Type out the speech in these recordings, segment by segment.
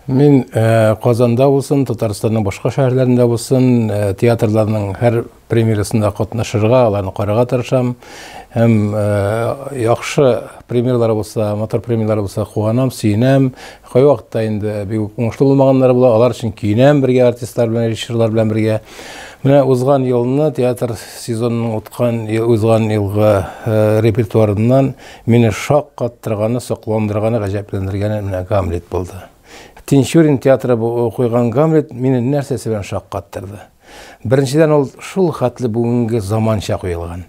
Мин Казанда булсын, Татарстанның башка шәһәрләрендә булсын, театрларның һәр премьерасында катнашырга, аларны карарга тырышам. Һәм яхшы премьерлар булса, мотор премьерлар булса, куанам, сөенәм. Кайвакытта инде бик уңышлы булмаганнар була, алар өчен көенәм бергә артистлар белән, режиссерлар белән бергә. Менә узган елны театр сезонының узган елгы репертуарыннан Мине шаккаттырганы, сокландырганы, гаҗәпләндергәне менә Гамлет булды. Тинчурин театры бу куйган Гамлет мине нәрсәсе белән шаккаттырды? Беренчедән, ул шул хәтле бүгенге заманча куелган.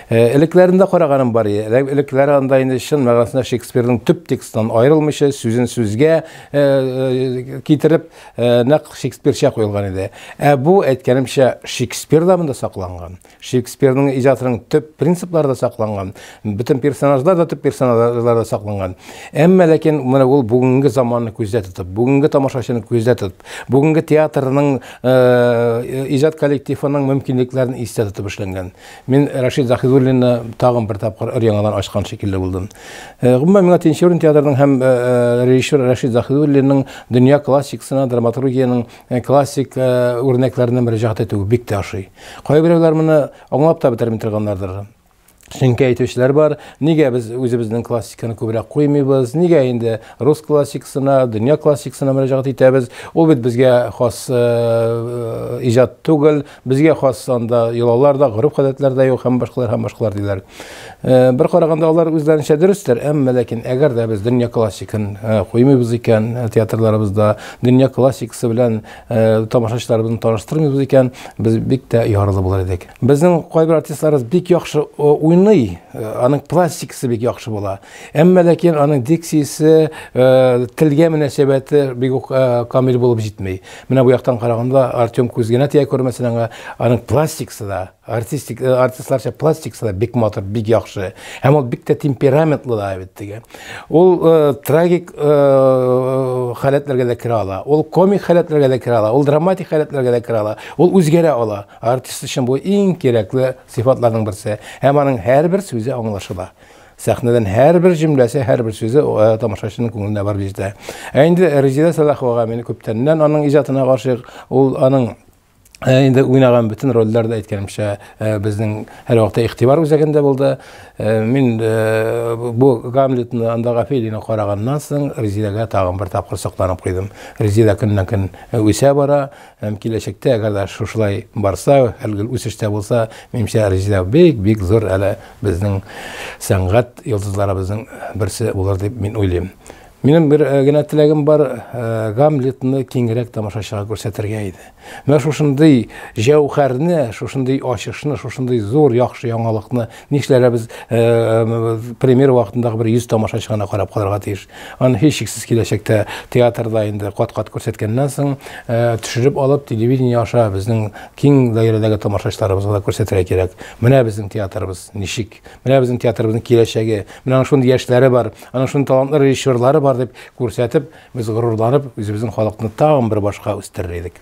Э, элекләрендә караганым бар иде. Элекләре анда инде чын мәгънәсендә Шекспирның төп текстыннан аерылмыйча, сүзен сүзгә э, э, китереп, нәкъ Шекспирча куелган иде. Ә бу, әйткәнемчә, Шекспир да монда сакланган. Шекспирның иҗатының төп принциплары да сакланган, бөтен персонажлар да төп персонажлар да сакланган. Әмма ләкин менә ул бүгенге заманны күздә тотып, бүгенге тамашачыны күздә тотып, бүгенге театрның э, иҗат коллективының мөмкинлекләрен истә тотып эшләнгән. Мин Рашид Заһидуллинны тагын бер тапкыр өр яңадан ачкан шикелле булдым. Э, гомумән миңа Тинчурин театрының һәм э, режиссер Рашид Заһидуллинның дөнья классикасына драматургиянең Ә классик э, үрнәкләренә мөрәҗәгать итү бик тә ошый. Кайберәүләр моны аңлап та бетерми торганнардыр. Чөнки әйтүчеләр бар, нигә без үзебезнең классиканы күбрәк куймыйбыз, нигә инде рус классикасына, дөнья классикасына мөрәҗәгать итәбез, ул бит безгә хас э, э, иҗат түгел, Безгә хас анда йолалар да, гореф-гадәтләр дә юк һәм башкалар һәм башкалар диләр. Э, бер караганда алар үзләренчә дөрестер, әмма ләкин әгәр дә без дөнья классикын э, куймыйбыз икән э, театрларыбызда, дөнья классикасы белән тамашачыларыбызны таныштырмыйбыз икән, без бик тә яралы булыр идек. Безнең кайбер артистларыбыз бик яхшы уйный, аның пластикасы бик яхшы була. Әмма ләкин аның дикциясе, телгә мөнәсәбәте бик үк камил булып җитми. Менә бу яктан караганда Артем күз генә тия күрмәсен аңа, аның пластикасы да, артистик, э, артистларча пластикасы да бик матур, бик яхшы. Һәм ул бик тә темпераментлы да бит теге. Ул э, трагик э, халәтләргә дә керә ала, ул комик халәтләргә дә керә ала, ул драматик халәтләргә дә керә ала, ул үзгәрә ала. Артист өчен бу иң кирәкле сыйфатларның берсе. Һәм аның һәрбер сүзе аңлашыла. Сәхнәдән һәрбер җөмләсе, һәрбер сүзе тамашачының күңеленә барып җитә. Ә инде Резидә Сәлаховага мин күптәннән аның иҗатына гашыйк. Ул аның инде уйнаган бөтен рольләр дә әйткәнемчә безнең һәрвакытта игътибар үзәгендә булды. Мин бу Гамлетны анда Гафелина караганнан соң Резидәгә тагын бер тапкыр сокланып куйдым. Резидә көннән-көн үсә бара. Һәм киләчәктә, әгәр дә шушылай барса, һәр гел үсештә булса, минемчә, Резидә бик-бик зур әле безнең сәнгать йолдызларыбызның берсе булыр дип мин уйлыйм. Минем бер генә теләгем бар, Гамлетны киңрәк тамашачыга күрсәтергә иде. Менә шушындый җәүһәрне, шушындый ачышны, шушындый зур яхшы яңалыкны Нишләргә без премьер вакытындагы бер 100 тамашачы гына карап калырга тиеш? Аны һичшиксез киләчәктә театрда инде кат-кат күрсәткәннән соң, төшереп алып, телевидение аша безнең киң даирәдәге тамашачыларыбызга да күрсәтергә кирәк. Менә безнең театрыбыз ничек, менә безнең театрыбызның киләчәге, менә аның шундый яшьләре бар, аның шундый талантлы режиссерлары бар, дип күрсәтеп, без горурланып, үзебезнең халыкны тагын бер башка үстерер идек.